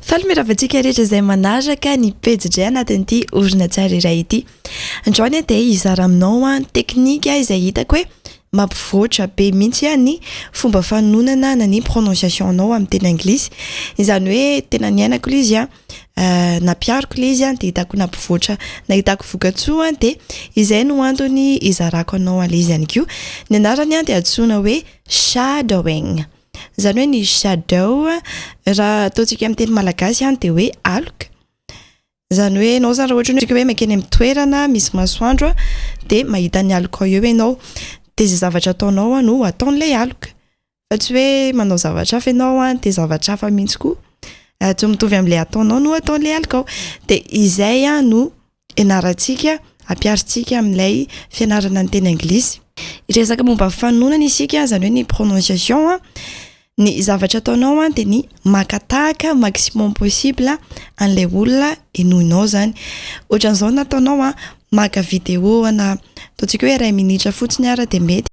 Faly mirava antsika rehetra izay manaraka ny pejy Jay anatin'ity horonantsary iray ity. Andreo anie dia hizara aminao an, teknika izay hitako hoe mampivoatra be mihitsy an ny fomba fanonana na ny prononciation anao amin'ny teny anglisy. Izany hoe tena niainako ilay izy an, nampihariko ilay izy an dia hitako nampivoatra, nahitako vokatsoa an dia izay no antony hizarako anao an'ilay izy ihany koa. Ny anarany an dia antsoina hoe shadowing. Izany hoe ny shadow, raha ataontsika amin'ny teny malagasy izany dia hoe aloka. Izany hoe ianao izany raha ohatra ianao hoe mankeny amin'ny toerana misy masoandro dia mahita ny aloka ao eo ianao. Dia izay zavatra ataonao no ataon'ilay aloka. Fa tsy hoe manao zavatra hafa ianao dia zavatra hafa mihitsy koa, tsy mitovy amin'ilay ataonao no ataon'ilay aloka ao. Dia izay no... ianarantsika, ampiharintsika amin'ilay fianarana ny teny anglisy. Hiresaka momba fanononana isika, izany hoe ny prononciation a. Ny zavatra ataonao a, dia ny maka tahaka maximum possible an'ilay olona henoinao izany. Ohatran'izao ny ataonao a, maka vidéo ana, ataontsika hoe iray minitra fotsiny ara dia mety.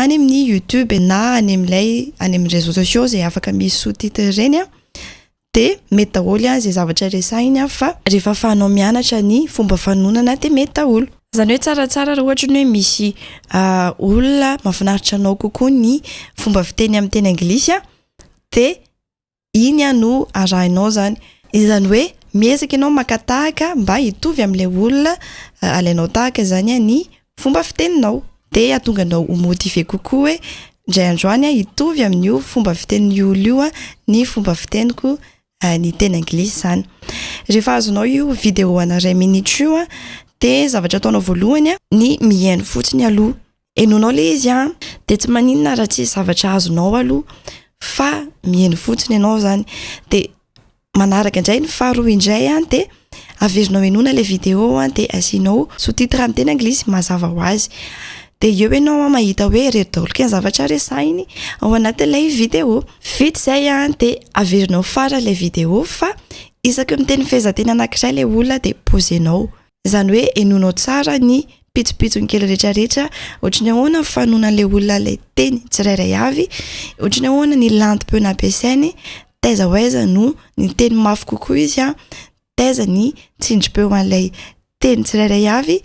any amin'ny youtube na any amin'ilay any amin'ny réseaux sociaux zay afaka misy sous titre ireny an de mety daholo an zay zavatra resahiny an fa rehefa afahanao mianatra ny fomba fanonana de mety daholo zany hoe tsaratsara raha ohatra ny hoe misy olona mafinaritra anao kokoa ny fomba fiteny amin'ny teny anglisy an de Iny an no arahinao zany. Izany hoe miezaka ianao maka tahaka mba hitovy amin'ilay olona alainao tahaka izany an ny fomba fiteninao. Dia hahatonga anao ho motiver kokoa hoe indray andro any an hitovy amin'io fomba fitenin'io olona io an ny fomba fiteniko ny teny anglisy zany. Rehefa azonao io video ana iray minitra io an dia zavatra ataonao voalohany an ny mihaino fotsiny aloha. Henoinao ilay izy an, dia tsy maninona raha tsisy zavatra azonao aloha fa miheno fotsiny ianao izany, dia manaraka indray ny faharoa indray an, dia averinao henoina ilay video an, dia asianao sous titre amin'ny teny anglisy mazava ho azy, dia eo ianao an mahita hoe ireto daholo kay ny zavatra resahiny ao anatin'ilay video, vita izay an, dia averinao farany ilay video fa isaky ny miteny fehezanteny anankiray ilay olona dia poser-nao. Izany hoe henoinao tsara ny pitsopitsony kely rehetrarehetra, ohatry ny ahoana ny fanonan'ilay olona ilay teny tsirairay avy, ohatry ny ahoana ny lantom-peo nampiasainy, taiza ho aiza no niteny mafy kokoa izy, taiza ny tsindrim-peo an'ilay teny tsirairay avy,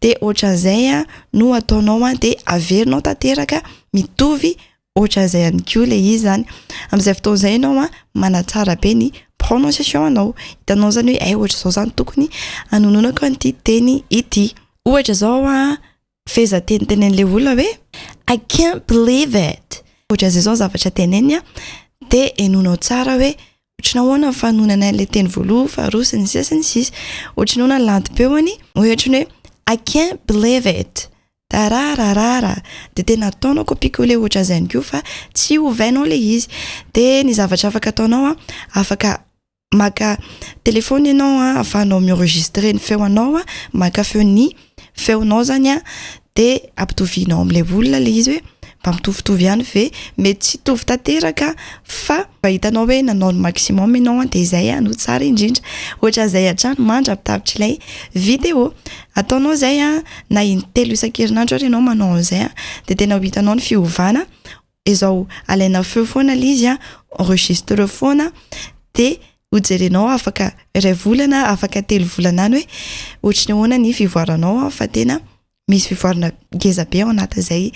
dia ohatran'izay no ataonao dia averinao tanteraka mitovy Ohatran'izay ihany koa ilay izy izany. Amin'izay fotoana izay ianao an, manatsara be ny prononciation anao. Hitanao izany hoe hay ohatr'izao izany tokony hanononako an'ity teny ity. Ohatra izao an, fehezanteny tenenin'ilay olona hoe I can't believe it. Ohatran'izay izao ny zavatra teneniny an, dia henoinao tsara hoe ohatry ny ahoana ny fanononana an'ilay teny voalohany, faharoa, sy ny sisa sy ny sisa. Ohatry ny ahoana ny lantom-peony, ohatry ny hoe I can't believe it. Tarararara! Dia tena ataonao copie coller ohatran'izany koa fa tsy ovainao ilay izy. Dia ny zavatra afaka ataonao an, afaka maka telefaona ianao an, ahafahanao mi-enregistrer ny feo anao an, maka feon'ny feonao izany an, dia ampitovianao amin'ilay olona ilay izy hoe mba mitovitovy ihany ve? Mety tsy hitovy tanteraka fa mba hitanao hoe nanao ny maximum ianao an, dia izay no tsara indrindra. Ohatran'izay hatrany mandra-pitapitr'ilay video. Ataonao izay an, na intelo isan-kerinandro ary ianao manao an'izay an, dia tena ho hitanao ny fiovana, izao alaina feo foana ilay izy an, enregistre foana, dia ho jerenao afaka iray volana, afaka telo volana any hoe ohatry ny ahoana ny fivoaranao an, fa tena misy fivoarana ngeza be ao anatin'izay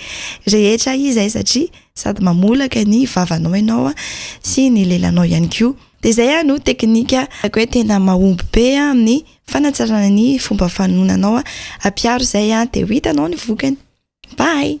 rehetra izay satria sady mamolaka ny vavanao ianao an, sy ny lelanao ihany koa. Dia izay aho no teknika ataoko hoe tena mahomby be amin'ny fanatsarana ny fomba fanononanao, ampiaro izay dia ho hitanao ny vokany. Bye.